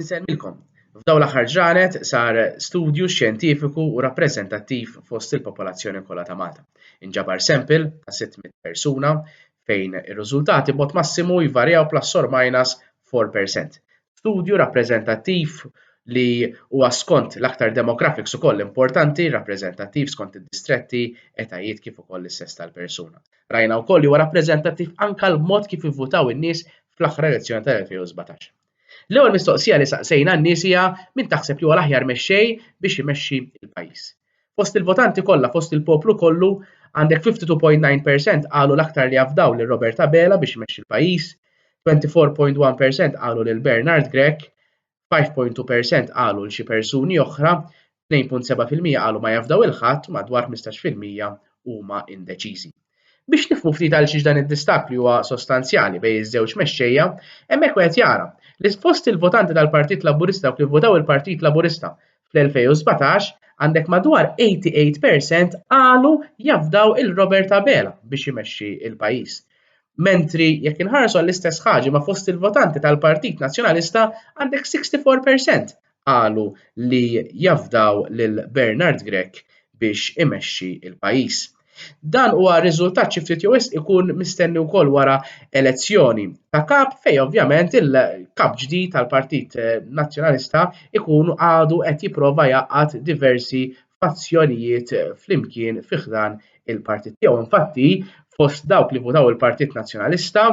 Insemmilkom, f'dawn l-aħħar ġranet sar studju xjentifiku u rappreżentattiv fost il-popolazzjoni kollha ta' Malta. Inġabar sample ta' 600 persuna fejn ir-riżultati b'mod massimu jvarjaw plus or minus 4 per cent. Studju rappreżentattiv li huwa skont l-aktar demographics ukoll importanti, rappreżentattiv skont id-distretti, etajiet kif ukoll is-sess tal-persuna. Rajna wkoll li huwa rappreżentattiv anke l-mod kif ivvutaw in-nies fl-aħħar elezzjoni tal-2017. L-ewwel mistoqsija li saqsejna n-nies hija min taħseb li huwa l-aħjar mexxej biex imexxi l-pajjiż. Fost il-votanti kollha, fost il-poplu kollu, għandek 52.9% qalu l-aktar li afdaw lil Robert Abela biex imexxi l-pajjiż, 24.1% qalu lil Bernard Grech, 5.2 per cent qalu 'l xi persuni oħra, 2.7 fil-mija qalu ma jafdaw 'il ħadd u madwar 15 fil-mija huma indeċiżi. Biex nifhmu ftit għalxiex dan id-distakk li huwa sostanzjali bejn iż-żewġ mexxejja, hemmhekk wieħed jara li fost il-votanti tal-Partit Laburista dawk li vvotaw il-Partit Laburista fl-2017 għandek madwar 88 percent qalu jafdaw il Robert Abela biex imexxi il pajjiż. Mentri jekk inħarsu għall-istess ħaġa ma fost il-votanti tal-Partit Nazzjonalista għandek 64 percent qalu li jafdaw lil Bernard Grech biex imexxi il pajjiż. Dan huwa riżultat xi ftit jew wisq ikun mistenni wkoll wara elezzjoni ta' kap fejn ovvjament il-kap ġdid tal-Partit eh, Nazzjonalista ikun għadu qed jipprova jgħaqqad diversi fazzjonijiet eh, flimkien fi ħdan il-partit tiegħu. Infatti, fost dawk li votaw il-Partit Nazzjonalista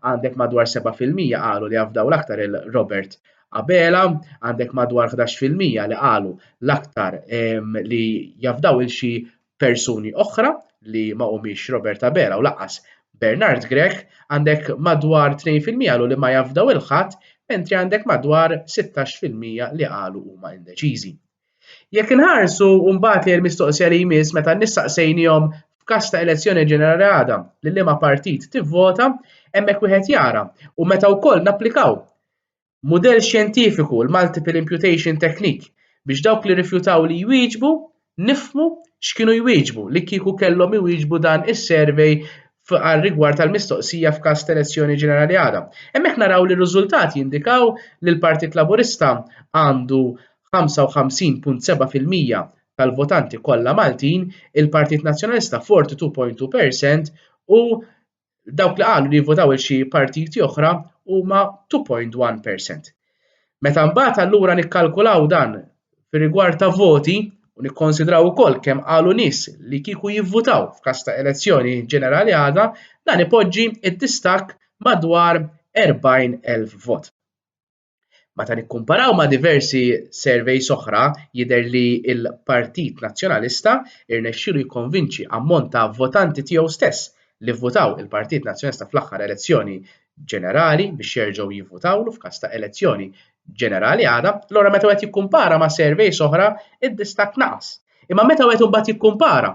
għandek madwar 7% qalu li jafdaw l-aktar il-Robert Abela, għandek madwar 11% li qalu l-aktar ehm, li jafdaw il-xi persuni oħra li ma humiex Robert Abela u laqqas Bernard Grech għandek madwar 2% lu li ma jafdaw il-ħadd mentri għandek madwar 16% li qalu huma indeċiżi. Jekk inħarsu mbagħad li l-mistoqsija li jmiss meta nissaqsejnihom f'każ ta' elezzjoni ġenerali għadha li liema partit tivvota, hemmhekk wieħed jara u meta wkoll napplikaw mudell xjentifiku, l-multiple imputation technique, biex dawk li rrifjutaw li jwieġbu nifhmu x'kienu jwieġbu li kieku kellhom iwieġbu dan is-survey għar-rigward tal-mistoqsija f'każ ta' elezzjoni ġenerali għada. Hemmhekk naraw li r-riżultati jindikaw li l-Partit Laburista għandu 55.7% tal-votanti kollha Maltin, il-Partit Nazzjonalista 42.2% u dawk li qalu li jivvotaw il xi partiti oħra huma 2.1%. Meta mbagħad allura nikkalkulaw dan fir-rigward ta' voti u nikkonsidraw ukoll kemm qalu nies li kieku jivvotaw f'każ ta' elezzjoni ġenerali għadha, dan ipoġġi d-distakk madwar 40,000 vot. Meta nikkumparaw ma' diversi surveys oħra jidher li l-Partit Nazzjonalista rnexxielu jikkonvinċi ammont ta' votanti tiegħu stess li vvutaw il-Partit Nazzjonalista fl-aħħar elezzjoni ġenerali biex jerġgħu jivvutawlu f'każ ta' elezzjoni ġenerali għada, allura meta wieħed jikkumpara ma' surveys oħra d-distakk naqas. Imma meta wieħed imbagħad jikkumpara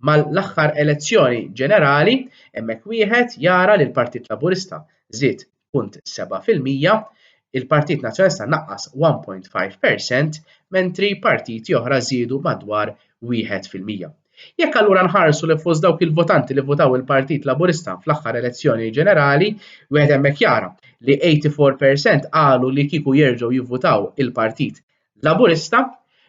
mal-aħħar elezzjoni ġenerali, hemmhekk wieħed jara li l-Partit Laburista żied 0.7 fil-mija, il-Partit Nazzjonalista naqqas 1.5 per cent, mentri partiti oħra żiedu madwar wieħed fil-mija. Jekk allura nħarsu li fost dawk il-votanti li votaw il-Partit Laburista fl-aħħar elezzjoni ġenerali, wieħed hemmhekk jara li 84% qalu li kieku jerġgħu jivvutaw il-Partit Laburista,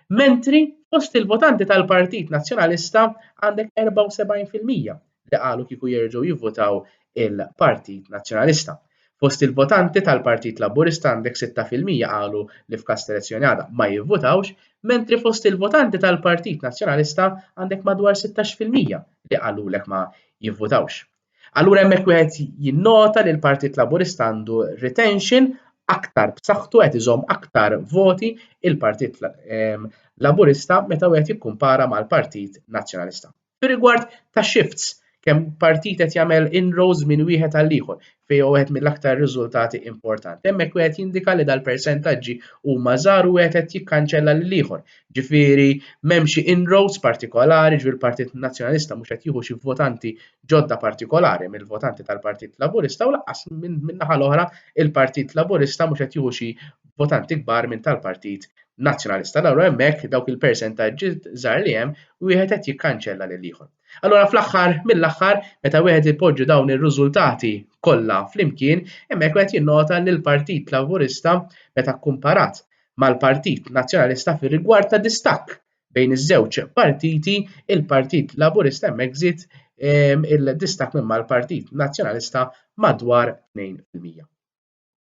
mentri fost il-votanti tal-Partit Nazzjonalista għandek 74 fil-mija li qalu kieku jerġgħu jivvotaw il-Partit Nazzjonalista. Fost il-votanti tal-Partit Laburista għandek 6 fil-mija qalu li f'każ ta' elezzjoni għada ma jivvotawx, mentri fost il-votanti tal-Partit Nazzjonalista għandek madwar 16 fil-mija li qalulek ma jivvotawx. Allura hemmhekk wieħed jinnota li l-Partit Laburista għandu retention aktar b'saħħtu qed iżomm aktar voti il-Partit ehm, Laburista meta wieħed jikkumpara mal-Partit Nazzjonalista. Fi rigward ta' shifts, kemm partit qed jagħmel inroads minn wieħed għal ieħor fej wieħed mill-aktar riżultati importanti. Hemmhekk wieħed jindika li dal-persentaġġi huma żgħar u wieħed qed jikkanċella lil ieħor Ġifieri m'hemm xi inroads partikolari, ġifieri l-Partit Nazzjonalista mhux qed jieħu xi votanti ġodda partikolari mill-votanti tal-Partit Laburista u lanqas min-naħa l-oħra il-Partit Laburista mhux qed jieħu xi votanti kbar minn tal-Partit Nazzjonalista. Allura hemmhekk dawk il-persentaġġi żgħar li hemm wieħed qed jikkanċella lil ieħor. Allura fl-aħħar mill-aħħar meta wieħed ipoġġi dawn ir-riżultati kollha flimkien, hemmhekk wieħed jinnota li l-Partit Laburista meta kkumparat mal-Partit Nazzjonalista fir-rigward ta' distakk bejn iż-żewġ partiti, il-Partit Laburista hemmhekk żied ehm, il-distakk minn mal-Partit Nazzjonalista madwar 2 fil-mija.